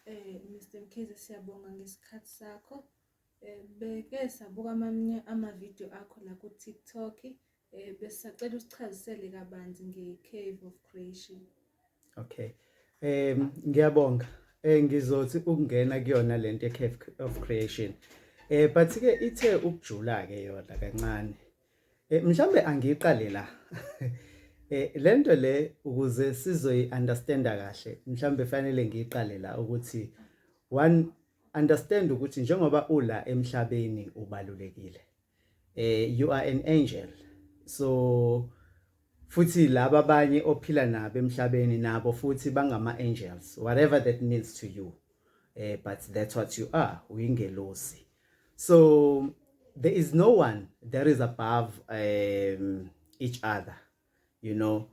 Eh Mr Mkhize siyabonga ngesikhathi sakho. Eh beke sabuka amanye ama video akho la ku TikTok. Eh besacela usichazisele kabanzi nge Cave of Creation. Okay. Eh ngiyabonga. Eh ngizothi ukungena kuyona lento ye Cave of Creation. Eh but ke ithe ukujula ke yona kancane. Eh mhlambe angiqale la. Eh lento le ukuze sizoyi understanda kahle mhlambe fanele ngiqale la ukuthi one understand ukuthi njengoba ula emhlabeni ubalulekile. Eh you are an angel. So Futhi laba abanye ophila nabo emhlabeni nabo futhi bangama angels whatever that means to you. Eh but that's what you are, uyingelosi. So there is no one that is above um each other. You know.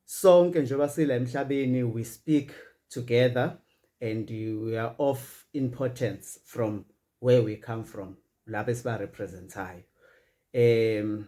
Sonke njengoba sila emhlabeni we speak together and we are of importance from where we come from. Lapho esiba representayo. Um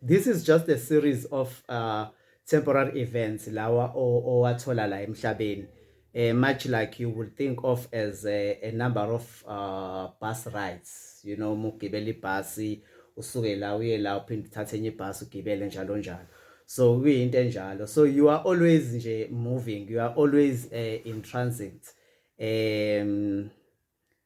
This is just a series of uh, temporary events lawa owathola la emhlabeni uh, much like you would think of as a, a number of uh, bus rides you know uma ugibela ibhasi usuke la uye la uphinde uthathe enye ibhasi ugibele njalo njalo so kuyinto enjalo so you are always nje moving you are always uh, in transit um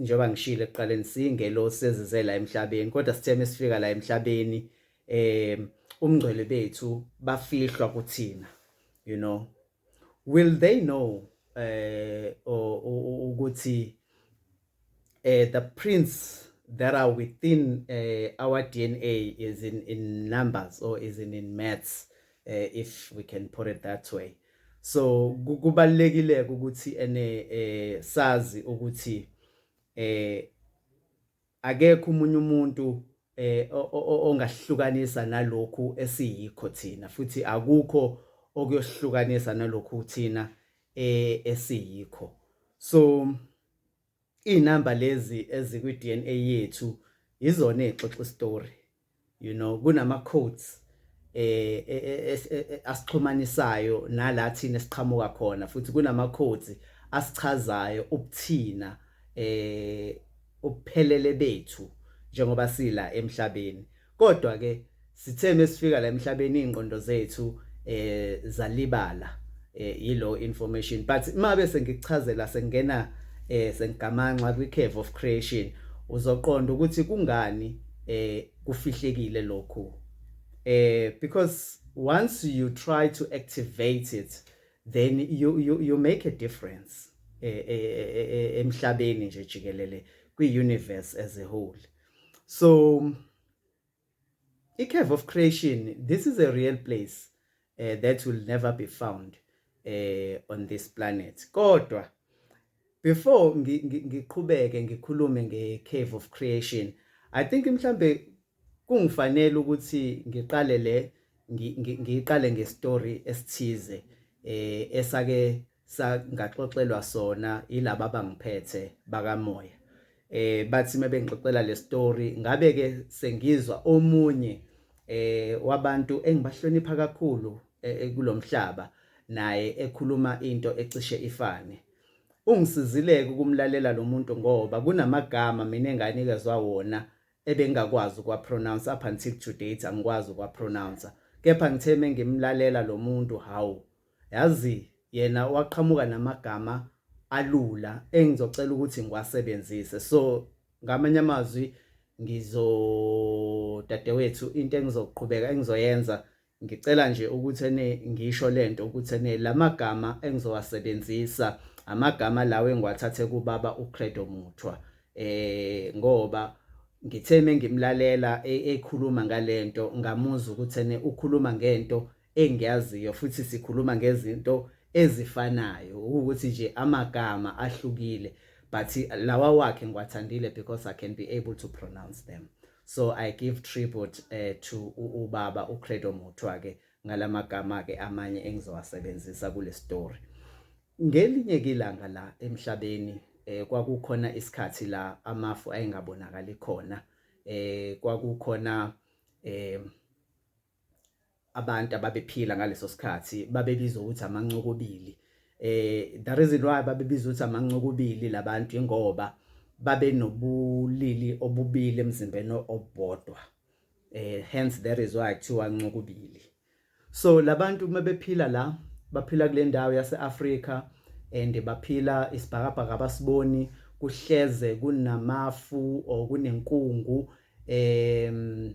njengoba ngishilo ekuqaleni singelosi ezize la emhlabeni kodwa sithe mesifika la emhlabeni eh umngcwele bethu bafihlwa kuthina you know will they know eh ukuthi eh the prince that are within uh, our DNA is in in numbers or is in in maths eh, if we can put it that way so kubalekile ukuthi ene eh, sazi ukuthi eh akekho umunye umuntu eh ongahlukanisa nalokhu esiyikho thina futhi akukho okuyohlukanisa nalokhu thina eh esiyikho so Izinamba lezi ezikwi DNA yethu yizona ezixoxa istory. You know kunama codes eh, eh, eh, eh asixhumanisayo nala thina siqhamuka khona futhi kunama codes asichazayo ubuthina eh ubuphelele bethu njengoba sila emhlabeni kodwa ke sithe mesifika la emhlabeni ingqondo zethu eh zalibala eh yilo information but uma bese ngikuchazela sengena eh sengigamanxa kwi cave of creation uzoqonda ukuthi kungani eh kufihlekile lokhu eh because once you try to activate it then you you you make a difference eh, eh, eh, emhlabeni nje jikelele kwi universe as a whole so i-cave of creation this is a real place uh, that will never be found uh, on this planet kodwa before ngiqhubeke ngikhulume nge-cave of creation i think mhlambe kungifanele ukuthi ngiqale le ngiqale ngestory esithize eh esake sangaxoxelwa sona yilabo abangiphethe bakamoya eh bathi mebengixoxela le story ngabe ke sengizwa omunye eh wabantu engibahlonipha kakhulu eh, eh, kulomhlaba naye ekhuluma into ecishe ifane ungisizileke ukumlalela lo muntu ngoba kunamagama mina enganikezwa wona ebengakwazi ukwapronounce up until today angikwazi ukwapronounce kepha ngithe mengimlalela lo muntu hawu Yazi yena waqhamuka namagama alula engizocela ukuthi ngiwasebenzise so ngamanye amazwi ngizo dadewethu into engizoqhubeka engizoyenza ngicela nje ukuthi ene ngisho lento ukuthi ene lamagama engizowasebenzisa amagama lawo engiwathathe kubaba uCredo Muthwa eh ngoba ngithe mengimlalela e, ekhuluma ngalento ngamuzwa ukuthi ene ukhuluma ngento engiyaziyo futhi sikhuluma ngezinto ezifanayo ukuthi nje amagama ahlukile but lawa wakhe ngiwathandile because I can be able to pronounce them so I give tribute uh, to ubaba uCredo Muthwa ke ngalamagama ke amanye engizowasebenzisa kule story ngelinye kilanga la emhlabeni eh kwakukhona isikhathi la amafu ayengabonakali khona eh kwakukhona eh abantu ababephila ngaleso sikhathi babebizwa ukuthi amancokobili eh the reason why babebizwa ukuthi amancokobili labantu ingoba babe nobulili obubili emzimbeni obodwa eh hence that is why kuthiwa ncokubili so labantu uma bephila la baphila kule ndawo yaseAfrika and baphila isibhakabhaka abasiboni kuhleze kunamafu or kunenkungu em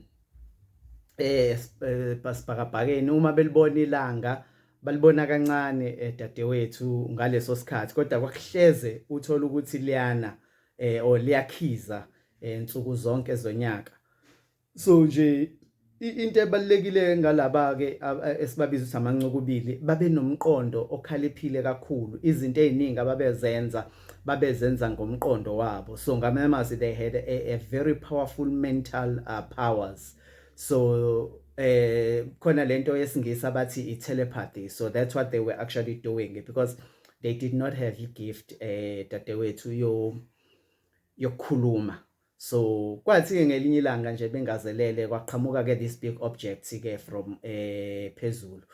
eh, eh basibhakabhakeni uma belibona ilanga balibona kancane eh, dadewethu ngaleso sikhathi kodwa kwakuhleze uthola ukuthi liyana eh or liyakhiza eh, nsuku zonke zonyaka so nje into ebalekile ngalaba ke esibabiza ukuthi amancukubili babenomqondo okhaliphile kakhulu izinto eziningi ababezenza babezenza ngomqondo wabo so ngamanye amazwi they had a, a very powerful mental uh, powers so eh khona lento yesingisi abathi i telepathy so that's what they were actually doing because they did not have a gift eh dadewethu yo yokukhuluma so kwathi-ke ngelinye ilanga nje bengazelele kwaqhamuka-ke this big object-ke from um eh, phezulu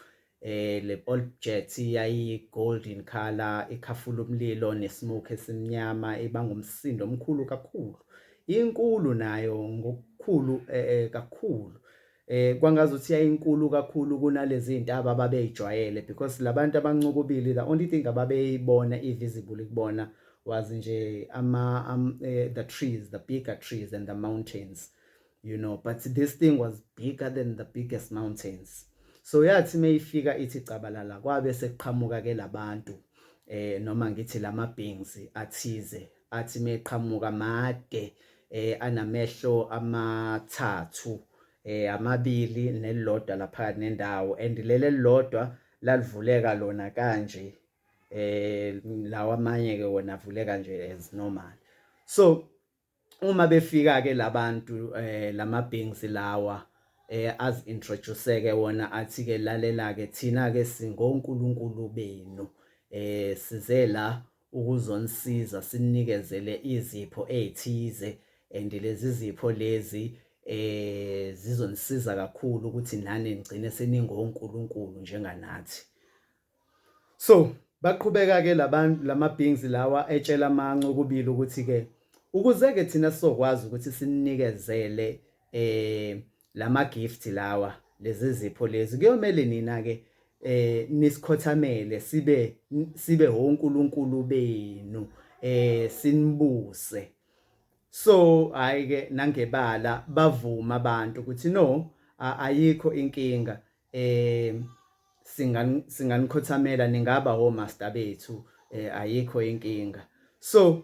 eh le object yayi golden color ikhafula umlilo nesmoke esimnyama ibanga umsindo omkhulu kakhulu inkulu nayo ngokukhulu eh, eh kakhulu eh kwangazuthi yayinkulu kakhulu kunalezi intaba ababeyijwayele because labantu abancukubili the only thing ababeyibona ivisible kubona was nje ama um, eh, the trees the bigger trees and the mountains you know but this thing was bigger than the biggest mountains so yathi mayifika ithi cabalala kwabe sekuqhamuka ke labantu eh noma ngithi lama beings athize athi meqhamuka made eh anamehlo amathathu eh amabili nelilodwa lapha nendawo and lele lilodwa lalivuleka lona kanje eh lawa amanye ke wona avuleka nje as normal so uma befika ke labantu eh lama beings lawa eh az introduce ke wona athi ke lalela ke thina ke singonkulunkulu benu eh size la ukuzonisiza sinikezele izipho ezithize and lezi zipho lezi eh zizonisiza kakhulu ukuthi nani ngcine seningonkulunkulu njenganathi so baqhubeka ke labantu lamabhings lawa etshela amancu kubili ukuthi ke ukuze ke thina sizokwazi ukuthi sininikezele eh lama gift lawa lezi zipho lezi kuyomele nina ke eh nisikhothamele sibe sibe honkulunkulu benu eh sinibuse so hayi ke nangebala bavuma abantu ukuthi no ayikho inkinga eh singan singanikhothamela ningaba ho master bethu eh ayikho inkinga so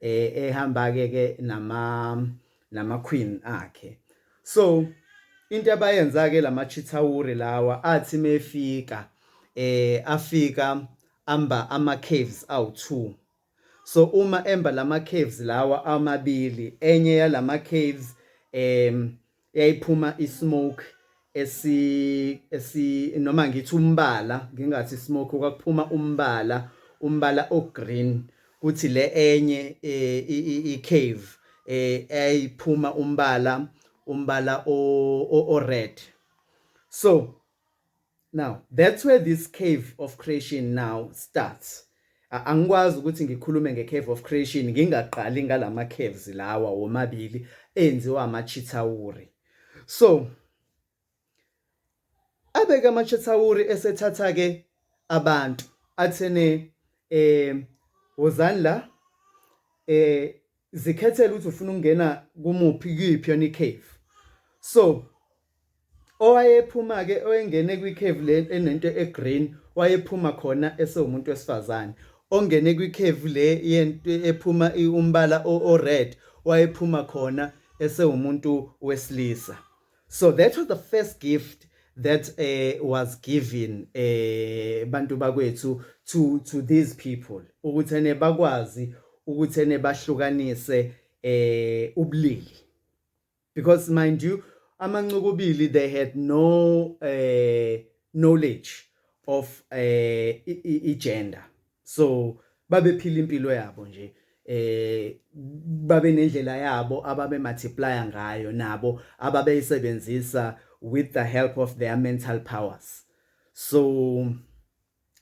eh ehamba ke ke nama nama queen akhe so into abayenza ke lama chithawuri lawa athi mefika eh afika amba ama caves awu2 so uma emba lama caves lawa amabili enye yalama caves em yayiphuma ismoke esi esi noma ngithi umbala ngingathi smoke kwakuphuma umbala umbala ogreen kuthi le enye eh, i cave eh, ayiphuma umbala umbala o red so Now that's where this cave of creation now starts. Angikwazi ukuthi ngikhulume ngecave of creation ngingaqali ngalama caves lawa womabili enziwa amachithawuri. So abeke amachithawuri esethatha ke abantu athene eh wozani la eh zikhethele ukuthi ufuna ukungena kumuphi kuyiphi yona icave so owayephuma ke oyengene kwicave le enento egreen wayephuma khona esewumuntu wesifazane ongene kwicave le yento ephuma umbala o red wayephuma khona esewumuntu wesilisa so that was the first gift that uh, was given eh bantu bakwethu to to these people ukuthi ne bakwazi ukuthi ne bahlukanise eh ubulili because mind you amancukubili they had no eh knowledge of eh i-gender so babephila impilo yabo nje eh babe nendlela yabo ababe multiply ngayo nabo ababeyisebenzisa with the help of their mental powers so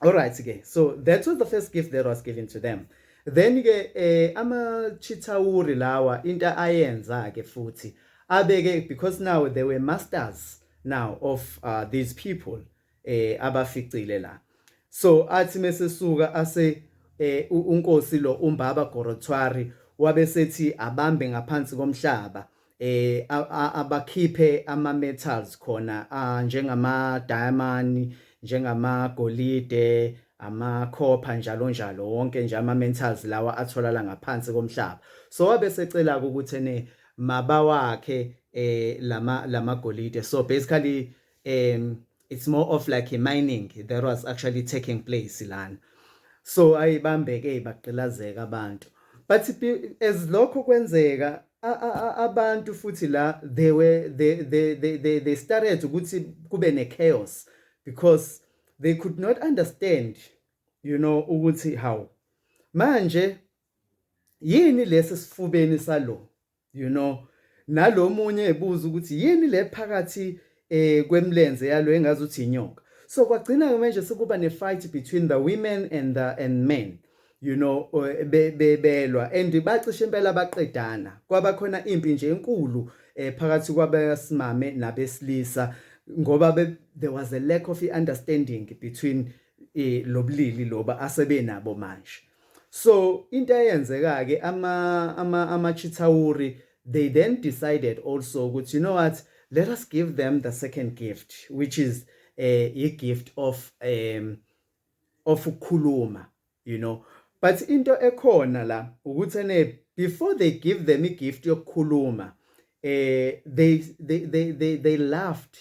all right ke so that was the first gift that was given to them then ke eh ama chitawuri lawa into ayenza ke futhi abeke because now they were masters now of uh, these people eh abaficile la so athi mesesuka ase eh unkosi lo umbaba Gorothwari wabesethi abambe ngaphansi komhlaba eh abakhiphe ama metals khona njengama diamond njengama golide ama copper njalo njalo wonke nje ama metals lawa atholala ngaphansi komhlaba so wabe secela ukuthi ne maba wakhe eh lama lamagolide so basically um it's more of like a mining that was actually taking place lana so ayibambeke ibagqilazeka abantu but as lokho kwenzeka abantu futhi la they were they they they they started ukuthi kube ne chaos because they could not understand you know ukuthi how manje yini lesi sifubeni salo you know nalomunye ebuza ukuthi yini le phakathi eh kwemlenze yalo engazi uthi inyoka so kwagcina ke manje sekuba ne fight between the women and the and men you know eh, bebelwa and bacishe impela baqedana kwaba khona impi nje enkulu eh phakathi kwabesimame nabesilisa ngoba there was a lack of understanding between eh lobulili loba asebenabo manje so into eyenzeka ke ama ama ama Chitawuri they then decided also ukuthi you know what let us give them the second gift which is eh uh, gift of um of ukukhuluma you know but into ekhona la ukuthi ene before they give them a gift yokukhuluma eh they they they they, they laughed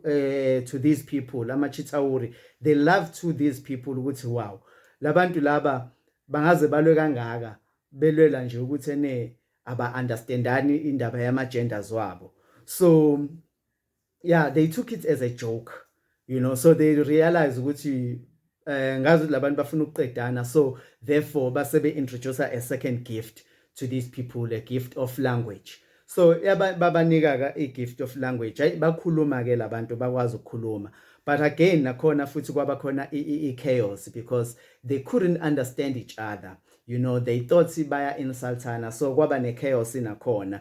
eh to these people ama chitsauri they love to these people ukuthi wow labantu laba bangaze balwe kangaka belwela nje ukuthi ene aba understandani indaba yama genders wabo so yeah they took it as a joke you know so they realize ukuthi eh ngazi ukuthi labantu bafuna ukuqedana so therefore base be introduce a second gift to these people a gift of language so babanika ka i gift of language hayi bakhuluma ke labantu bakwazi ukukhuluma but again nakhona futhi kwaba khona i chaos because they couldn't understand each other you know they thought baya insultana so kwaba ne chaos nakhona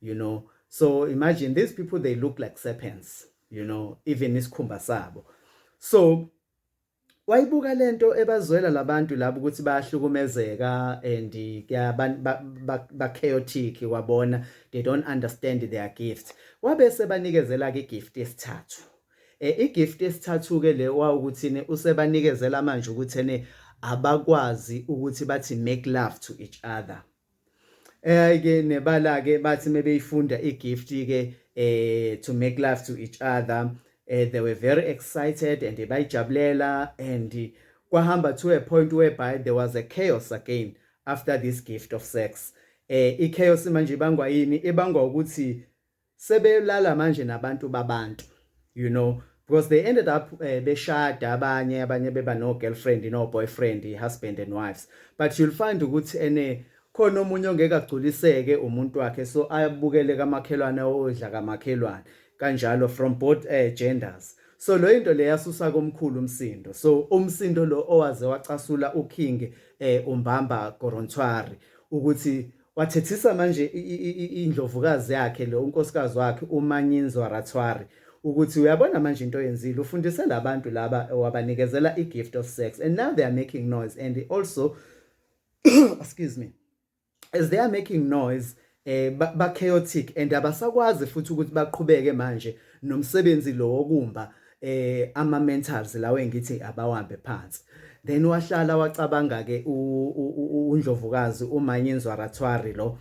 you know so imagine these people they look like serpents you know even isikhumba sabo so wayibuka lento ebazwela labantu labo ukuthi bayahlukumezeka and ba chaotic wabona they don't understand their gift wabe sebanikezela ke gift yesithathu eh igift yesithathu ke le wawukuthini usebanikezela manje ukuthi ene abakwazi ukuthi bathi make love to each other Eh ke nebala ke bathi mebeyifunda igift ke eh to make love to each other eh, they were very excited and bayijabulela and kwahamba to a point whereby there was a chaos again after this gift of sex eh i chaos manje ibangwa yini ibangwa ukuthi sebelala manje nabantu babantu you know because they ended up uh, beshada abanye abanye beba no girlfriend no boyfriend husband and wives but you'll find ukuthi ene khona omunye ongeke agculiseke umuntu wakhe so ayabukele kamakhelwane odla kamakhelwane kanjalo from both uh, genders so lo into le yasusa komkhulu umsindo so umsindo lo owaze wacasula uking eh umbamba Gorontwari ukuthi Wathethisa manje indlovukazi yakhe lo unkosikazi wakhe uManyinzwa Ratswari ukuthi uyabona manje into oyenzile ufundise labantu laba wabanikezela igift of sex and now they are making noise and also excuse me as they are making noise eh ba chaotic and abasakwazi futhi ukuthi baqhubeke manje nomsebenzi lo wokumba eh ama mentals lawo engithi abawambe phansi then wahlala wacabanga ke undlovukazi umanyinzwa rathwari lo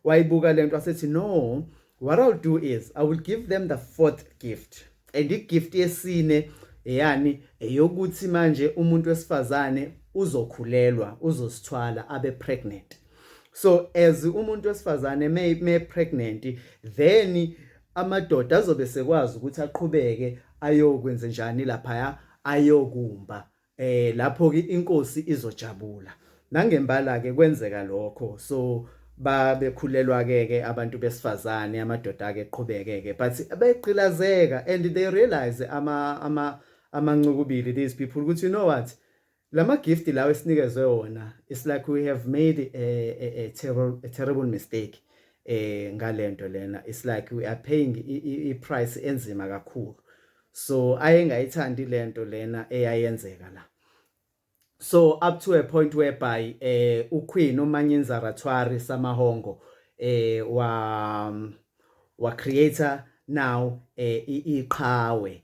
wayibuka lento asethi no what i'll do is i will give them the fourth gift and igift yesine eyani eyokuthi manje umuntu wesifazane uzokhulelwa uzosithwala abe pregnant so as umuntu wesifazane me, me pregnant then amadoda azobe sekwazi ukuthi aqhubeke ayokwenze njani lapha ayokumba eh lapho ke inkosi izojabula nangembala ke kwenzeka lokho so babekhulelwa ke ke abantu besifazane amadoda ke qhubeke ke but beqilazeka and they realize ama ama amancukubili these people ukuthi you know what Lama gift lawo esinikezwe wona it's like we have made a, a, a, terrible, a terrible mistake eh ngalento lena it's like we are paying i price enzima kakhulu so ayengayithandi lento lena eyayenzeka la so up to a point whereby eh uQueen uManyinza Ratwari Samahongo eh wa wa creator now eh iqhawe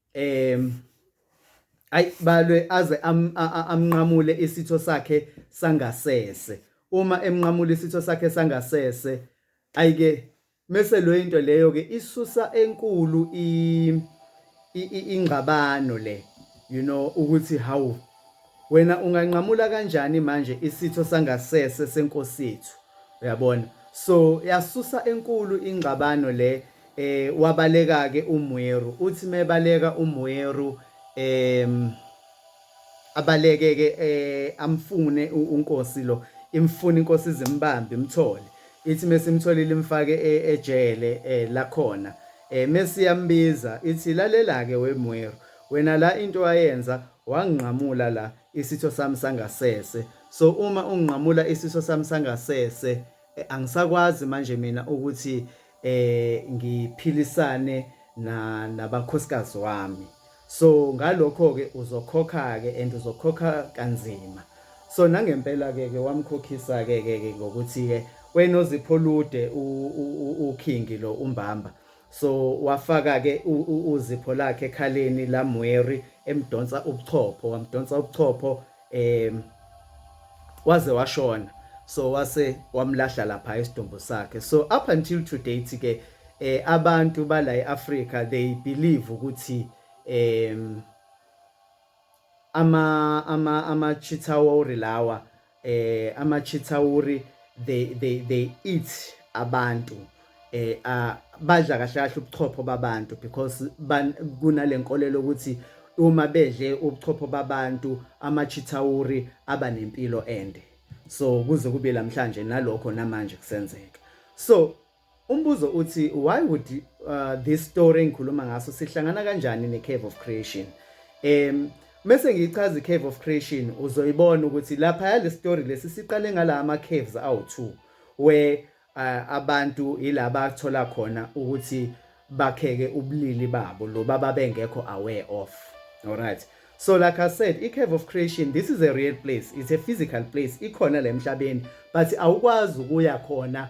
um ayi balwe aze amnqamule isitho sakhe sangasese uma emnqamula isitho sakhe sangasese ayike mese lo into leyo ke isusa enkulu ingxabano le you know ukuthi hawu Wena unganqamula kanjani manje isitho sangasese senkosethu uyabona so yasusa enkulu ingxabano le eh wabaleka ke uMweru uthi mebaleka uMweru em abaleke ke eh amfune unkosi lo imfuna inkosi izimbambe imthole ithi mesimtholile imfake e, ejele eh, lakhona eh mesiyambiza ithi lalela ke weMweru Wena la into owayenza wangqamula la isitho sami sangasese so uma ungqamula isitho sami sangasese eh, angisakwazi manje mina ukuthi eh ngiphilisane na nabakhosikazi wami so ngalokho ke uzokhokha ke and uzokhokha kanzima so nangempela ke ke wamkhokhisa ke ke ngokuthi ke wena ozipho lude ukhingi lo umbamba So wafaka ke uzipho lakhe ekhaleni la Mweri emdonsa ubuchopho wamdonsa ubuchopho em waze washona so wase wamlahla lapha isidumbu sakhe so up until today ke eh abantu bala eAfrica they believe ukuthi em Ama ama ama Chitauri lawa eh ama Chitauri they they they eat abantu eh uh, badla kahle kahle ubuchopho babantu because kunalenkolelo ukuthi uma bedle ubuchopho babantu ama Chitauri aba nempilo ende so kuze kube lamhlanje nalokho namanje kusenzeka so Umbuzo uthi why would uh, this story engikhuluma ngaso sihlangana kanjani ne Cave of Creation? Em mese ngichaza i Cave of Creation uzoyibona ukuthi lapha yale story lesi siqale ngala ama caves awu2 where uh, abantu yilaba athola khona ukuthi bakheke ubulili babo lo baba bengekho aware of. Alright. So like I said, i-Cave of Creation, this is a real place. It's a physical place. Ikhona la emhlabeni, but awukwazi ukuya khona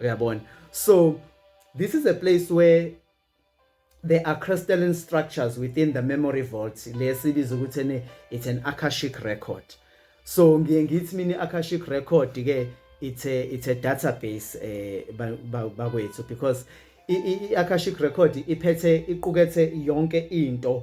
uyabona so this is a place where there are crystalline structures within the memory vault lesibiza ukuthi ne it's an akashic record so ngiye ngithi mina akashic record ke it's a it's a database eh bakwethu because i akashic record iphethe iqukethe yonke into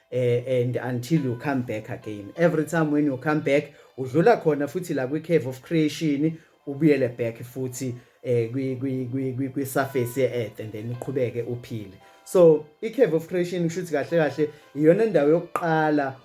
eh, and until you come back again every time when you come back udlula khona futhi la kwi cave of creation ubuyele back futhi eh kwi kwi kwi kwi surface ye earth and then uqhubeke uphile so i cave of creation kushuthi kahle kahle iyona indawo yokuqala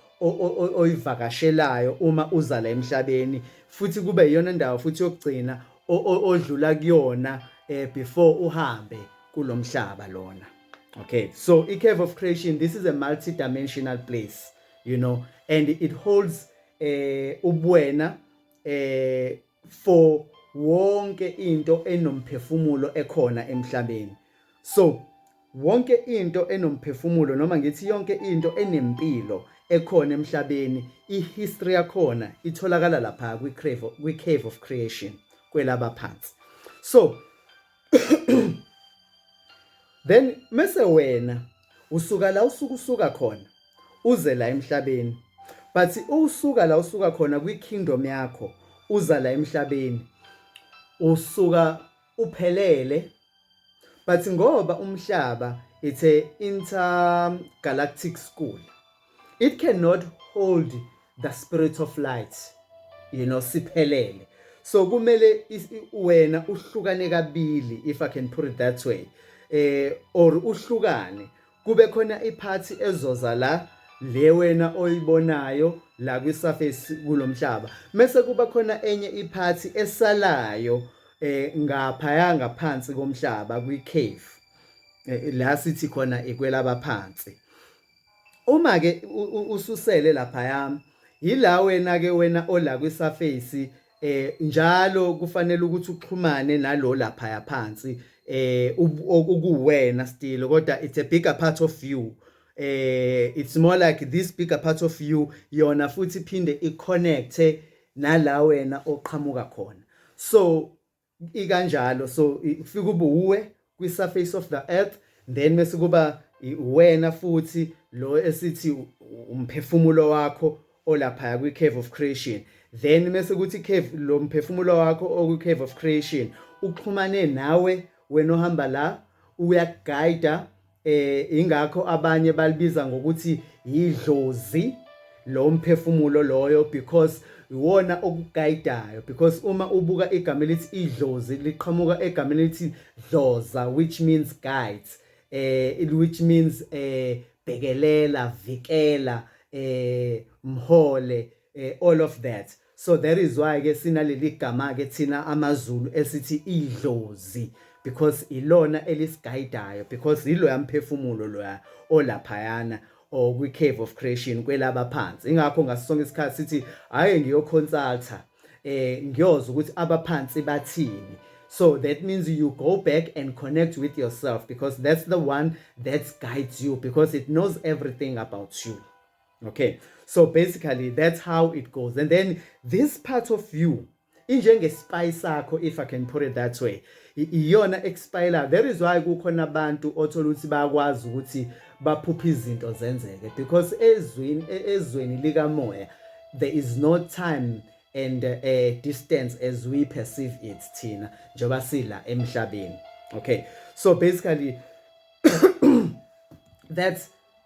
oyivakashelayo uma uza la emhlabeni futhi kube iyona indawo futhi yokugcina odlula kuyona eh before uhambe kulomhlaba lona Okay, so a cave of creation, this is a multi-dimensional place, you know, and it holds uh, eh, ubuena uh, eh, for wonke into enomphefumulo ekhona emhlabeni. So wonke into enomphefumulo noma ngithi yonke into enempilo ekhona emhlabeni ihistory yakhona itholakala lapha kwi-cave kwi-cave of creation kwelaba phansi so then mese wena usuka la usuku usuka khona uze la emhlabeni but usuka la usuka khona kwi kingdom yakho uza la emhlabeni usuka uphelele but ngoba umhlaba it's a intergalactic school it cannot hold the spirit of light you know siphelele so kumele wena uhlukane kabili if i can put it that way eh or uhlukane kube khona iphathi ezoza la le wena oyibonayo la kwi surface kulomhlaba mase kuba khona enye iphathi esalayo eh ngapha yanga phansi komhlaba kwi cave eh, la sithi khona ikwelaba phansi Uma ke ususele lapha yami yila wena ke wena ola kwi surface eh njalo kufanele ukuthi uxhumane nalo lapha yaphansi eh ukuwena still kodwa it's a bigger part of you eh it's more like this bigger part of you yona futhi phinde iconnecte nala wena oqhamuka khona so ikanjalo so kufika ubuwe kwi surface of the earth then mase kuba wena futhi lo esithi umphefumulo wakho olapha kwi cave of creation then mase kuthi cave lo mphefumulo wakho okwi cave of creation uxhumane nawe wena ohamba la uyakuguide eh ingakho abanye balibiza ngokuthi yidlozi lo mphefumulo loyo because iwona okuguidayo because uma ubuka igama elithi idlozi liqhamuka egameni elithi dloza which means guide eh which means eh bhekelela vikela eh mhole eh, all of that so that is why ke sinaleli gama ke thina amazulu esithi idlozi because ilona elisigayidayo because yilo yamphefumulo loya olaphayana or kwi cave of creation kwelaba phansi ingakho ngasonke isikhathi sithi haye ngiyoconsulta eh ngiyoza ukuthi abaphansi bathini So that means you go back and connect with yourself because that's the one that guides you because it knows everything about you. okay so basically that's how it goes and then this part of you injengespy sakho if i can put it that way iyona expire there is why kukhona abantu othola ukuthi bayakwazi ukuthi baphuphe izinto zenzeke because ezweni e, ezweni likamoya there is no time and uh, distance as we perceive it thina njengoba sila emhlabeni okay so basically that's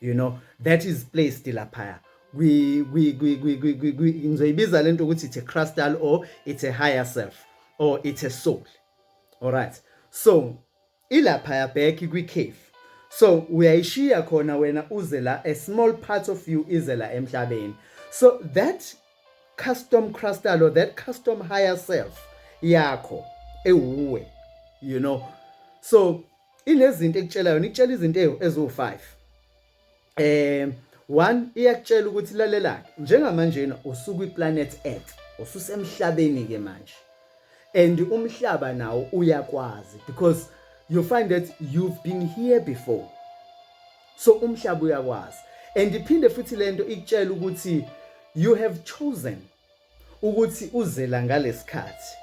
you know that is placed laphaya ngizoyibiza lento ukuthi it's a crystal or it's a higher self or it's a soul all right so ilaphaya back kwi-cave so uyayishiya khona wena uze la a small part of you ize la emhlabeni so that custom crystal or that custom higher self yakho ewuwe you know so inezinto ekutshela yona ikutshela izinto eziwu-5 eh one iyakutshela ukuthi lalelake njengamanjena usuku iplanet earth ususemhlabeni ke manje and umhlaba nawo uyakwazi because you find that you've been here before so umhlaba uyakwazi and iphinde futhi lento ikutshela ukuthi you have chosen ukuthi uzela ngalesikhathi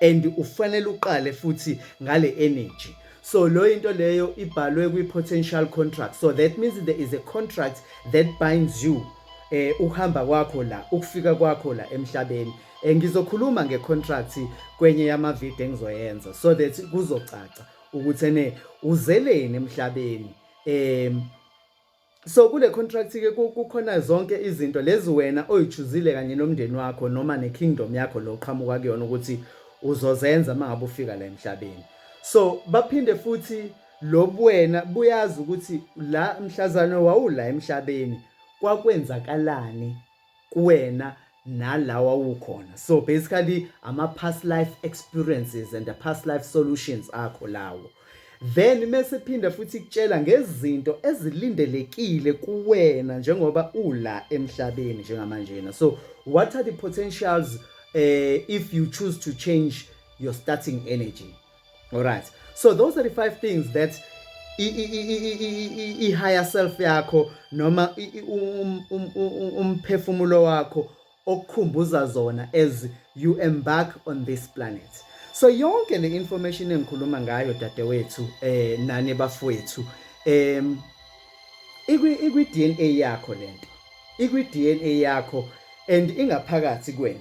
and ufanele uqale futhi ngale energy so lo into leyo ibhalwe kwi potential contract so that means there is a contract that binds you eh uhamba kwakho la ukufika kwakho la emhlabeni eh, ngizokhuluma nge contract kwenye yama video engizoyenza so that kuzocaca ukuthi ene uzeleni emhlabeni em So kule contract ke kukhona zonke izinto lezi wena oyichuzile kanye nomndeni wakho noma ne kingdom yakho lo qhamuka kuyona ukuthi uzozenza mangabe ufika la emhlabeni. So baphinde futhi lobuwena buyazi ukuthi la mhlazane wawula emhlabeni kwakwenzakalani kuwena nala wawukhona so basically ama past life experiences and the past life solutions akho lawo then mese phinda futhi kutshela ngezinto ezilindelekile kuwena njengoba ula emhlabeni njengamanjena so what are the potentials uh, if you choose to change your starting energy all right so those are the five things that i-higher self yakho noma um, um, um, umphefumulo wakho okukhumbuza zona as you embark on this planet so yonke le information engikhuluma ngayo dadewethu eh nani bafowethu em ikwi ikwi DNA yakho lento ikwi DNA yakho and ingaphakathi kwena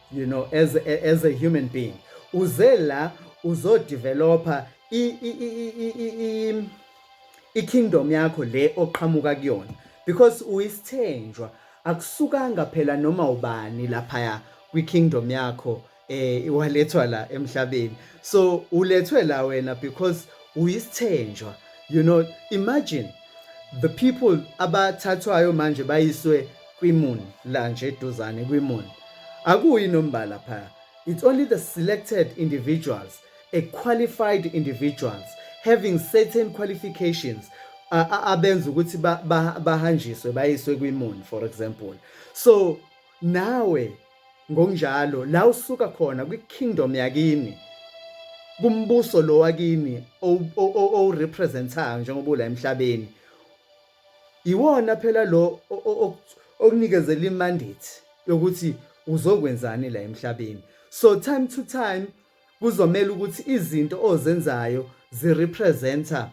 you know as a, as a human being uze la uzodeveloper i i i i kingdom yakho le oqhamuka kuyona because uyisithenjwa akusukanga phela noma ubani laphaya kwi kingdom yakho eh iwalethwa la emhlabeni so ulethwe la wena because uyisithenjwa you know imagine the people abathathwayo manje bayiswe kwiMoon la nje eduzane kwiMoon akuyi nombala phaya it's only the selected individuals a qualified individuals having certain qualifications abenza ukuthi bahanjiswe bayiswe kwiMoon for example so nawe ngokunjalo la usuka khona kwi-kingdom yakini kumbuso lo wakini owurepresentayo njengoba ula emhlabeni Iwona phela lo okunikezela imandate yokuthi uzokwenzani la emhlabeni. So time to time kuzomela ukuthi izinto ozenzayo zirepresenta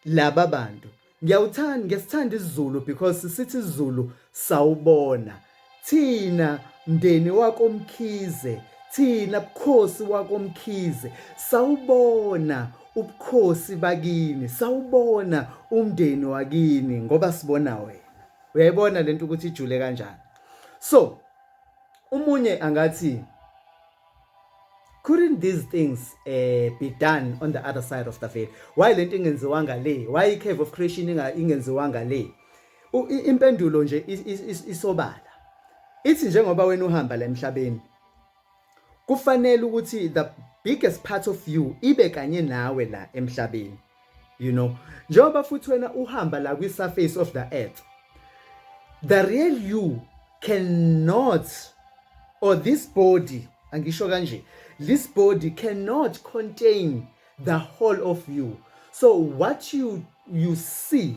laba bantu. Ngiyawuthanda, ngesithanda isiZulu because sithi isiZulu sawubona. Thina mndeni wakoMkhize, thina bukhosi wakoMkhize, sawubona ubukhosi bakini, sawubona umndeni wakini ngoba sibona wena. Uyayibona lento ukuthi ijule kanjani. So umunye angathi couldn't these things uh, be done on the other side of the veil why lento ingenziwanga le why i-cave of creation ingenziwanga le impendulo nje isobala ithi njengoba wena uhamba la emhlabeni kufanele ukuthi the biggest part of you ibe kanye nawe la emhlabeni you know njengoba futhi wena uhamba la kwi surface of the earth the real you cannot or this body angisho kanje this body cannot contain the whole of you so what you you see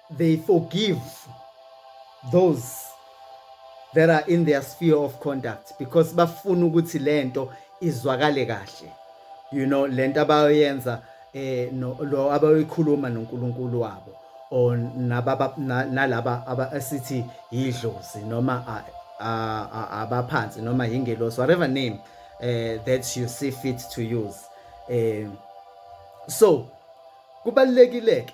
they forgive those that are in their sphere of conduct because bafuna ukuthi lento izwakale kahle you know lento abayoyenza eh no lo abayikhuluma noNkulunkulu wabo or nababa nalaba abasithi yidlozi noma abaphansi noma yingelosi whatever name eh that you see fit to use eh so kubalekile ke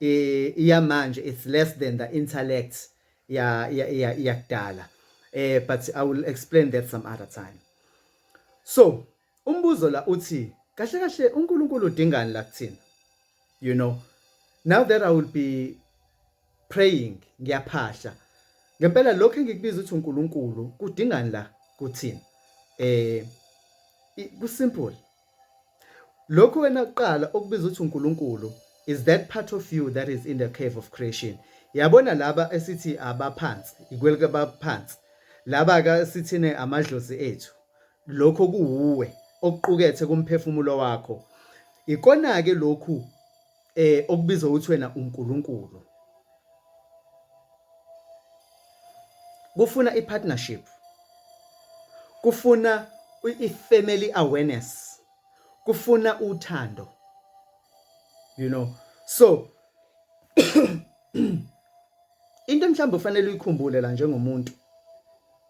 iyamanje it's less than the intellect ya ya yakudala eh but i will explain that some other time so umbuzo la uthi kahle kahle uNkulunkulu udingani la kuthina you know now that i will be praying ngiyaphahla ngempela lokho engikubiza ukuthi uNkulunkulu kudingani la kuthina eh ku simple Lokhu wena kuqala okubiza ukuthi uNkulunkulu is that part of you that is in the cave of creation. Yabona laba esithi abaphansi, ikwelike abaphansi. Laba ka sithine amadlozi ethu. Lokho kuwuwe okuqukethe kumphefumulo wakho. Ikona ke lokhu eh okubiza ukuthi wena uNkulunkulu kufuna ipartnership kufuna ifamily awareness kufuna uthando you know so into mhlawumbe ufanele uyikhumbule la njengomuntu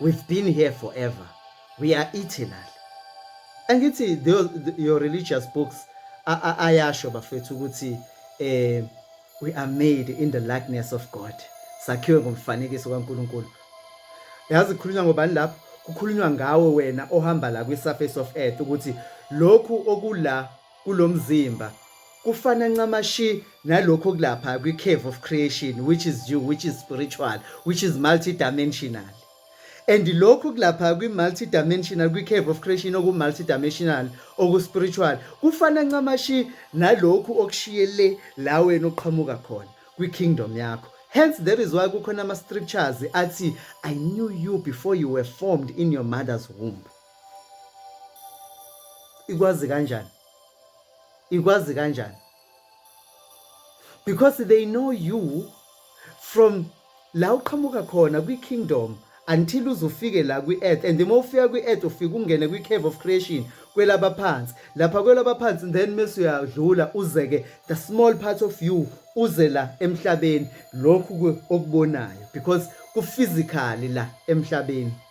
we've been here forever we are eternal angithi your religious books ayasho bafethu ukuthi eh we are made in the likeness of God sakhiwe ngomfanekiso kaNkuluNkulu yazi khulunywa ngobani lapho kukhulunywa ngawe wena ohamba la kwi surface of earth ukuthi lokhu okula kulo mzimba kufana ncamashi nalokho kulapha kwi-cave of creation which is you which is spiritual which is multidimensional and lokhu kulapha kwi-multidimensional kwi-cave of creation oku-multidimensional oku-spiritual kufana ncamashi nalokhu okushiye le la wena uqhamuka khona kwi-kingdom yakho hence that is why kukhona ama-scriptures athi i knew you before you were formed in your mother's womb ikwazi kanjani ikwazi kanjani because they know you from la uqhamuka khona kwi-kingdom until uzufike la kwi-earth and uma ufika kwi-earth ufike ungene kwi-cave of creation kwelabaphansi lapha kwelabaphansi then mese uyadlula uze-ke the small part of you uze la emhlabeni lokhu okubonayo because kuphysically la emhlabeni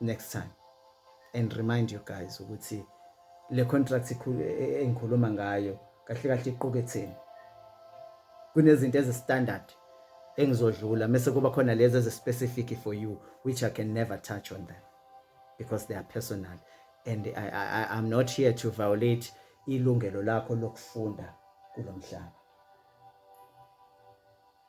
next time and remind you guys ukuthi le contract e, e, engikhuluma ngayo kahle kahle iquketheni kunezinto ezi standard engizodlula mase kuba khona lezi ezi specific for you which I can never touch on them because they are personal and I, I, I'm not here to violate ilungelo lakho lokufunda kulomhlaba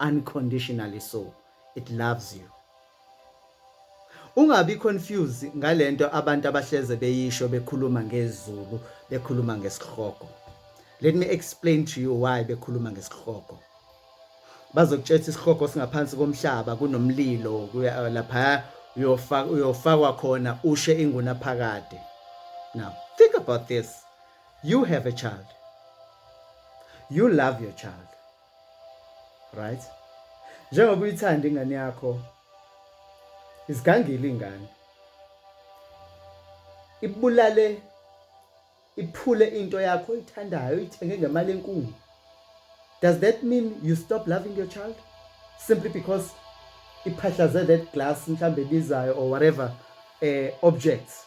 unconditionally so it loves you ungabi confused ngalento abantu abahleze beyisho bekhuluma ngezulu bekhuluma ngesihogo let me explain to you why bekhuluma ngesihogo bazokutshela isihogo singaphansi komhlaba kunomlilo lapha uyofaka uyofakwa khona ushe inguna phakade now think about this you have a child you love your child right njengoba uyithanda ingane yakho izigangile ingane ibulale iphule into yakho oyithandayo ithenge ngemali enkulu does that mean you stop loving your child simply because iphahlaze that glass mhlambe bizayo or whatever eh objects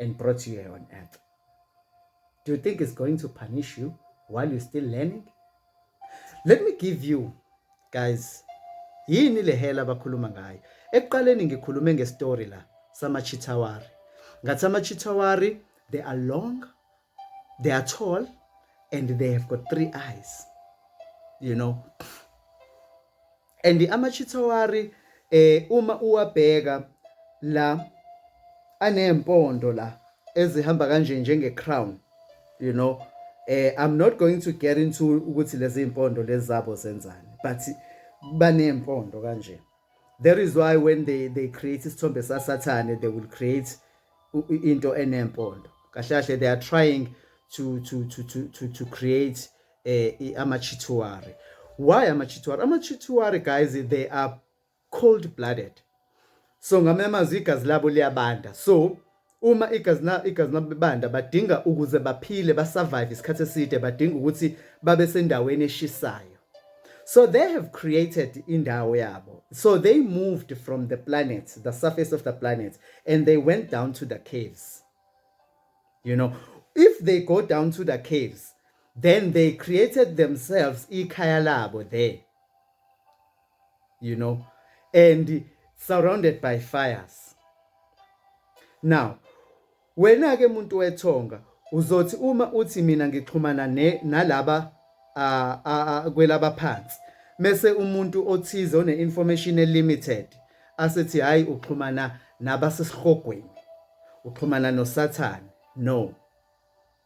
and brought you here on earth. Do you think it's going to punish you while you're still learning? Let me give you guys yini le hela abakhuluma ngayo. Ekuqaleni ngikhulume ngestory la sama chitawari. Ngathi ama chitawari they are long they are tall and they have got three eyes you know and amachithawari eh uma uwabheka la anempondo la ezihamba kanje njenge crown you know eh i'm not going to get into ukuthi lezi impondo lezabo zenzani but banempondo kanje That is why when they they create isithombe sasathane they will create into enempondo. Kahle kahle they are trying to to to to to, to create eh amachituari. Why amachituari? Amachituari guys they are cold blooded. So ngamemazwi igazi labo liyabanda. So uma igazi na igazi labo bebanda badinga ukuze baphile ba survive isikhathi eside badinga ukuthi babe sendaweni eshisayo so they have created indawo yabo so they moved from the planet the surface of the planet and they went down to the caves you know if they go down to the caves then they created themselves ikhaya labo there you know and surrounded by fires now wena ke muntu wethonga uzothi uma uthi mina ngixhumana ne nalaba kwelaba phansi mese umuntu othize one information limited asethi hayi uxhumana nabasesihogweni uxhumana nosathane no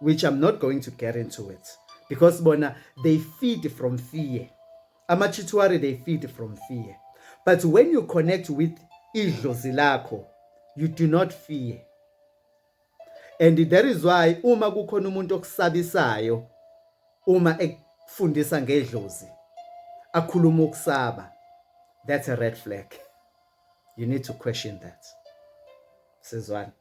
which I'm not going to get into it because bona they feed from fear amachituary they feed from fear but when you connect with idlozi lakho you do not fear and that is why uma kukhona umuntu okusabisayo uma ekufundisa ngedlozi akhuluma ukusaba that's a red flag you need to question that sizwana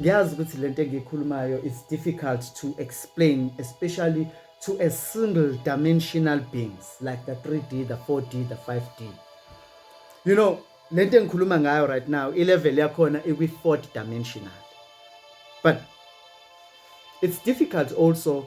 ngiyazi ukuthi lento engiyikhulumayo is difficult to explain especially to a single dimensional beings like the 3D the 4D the 5D you know lento engikhuluma ngayo right now i level yakhona ikwi fourth dimensional but it's difficult also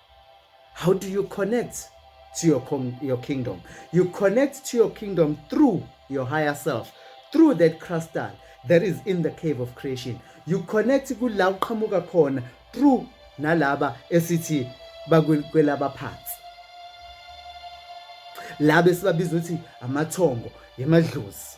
How do you connect to your, your kingdom? You connect to your kingdom through your higher self, through that crystal that is in the cave of creation. You connect kula uqhamuka khona through nalaba esithi bakwelaba phansi. Laba esibabiza ukuthi amathongo yemadlozi.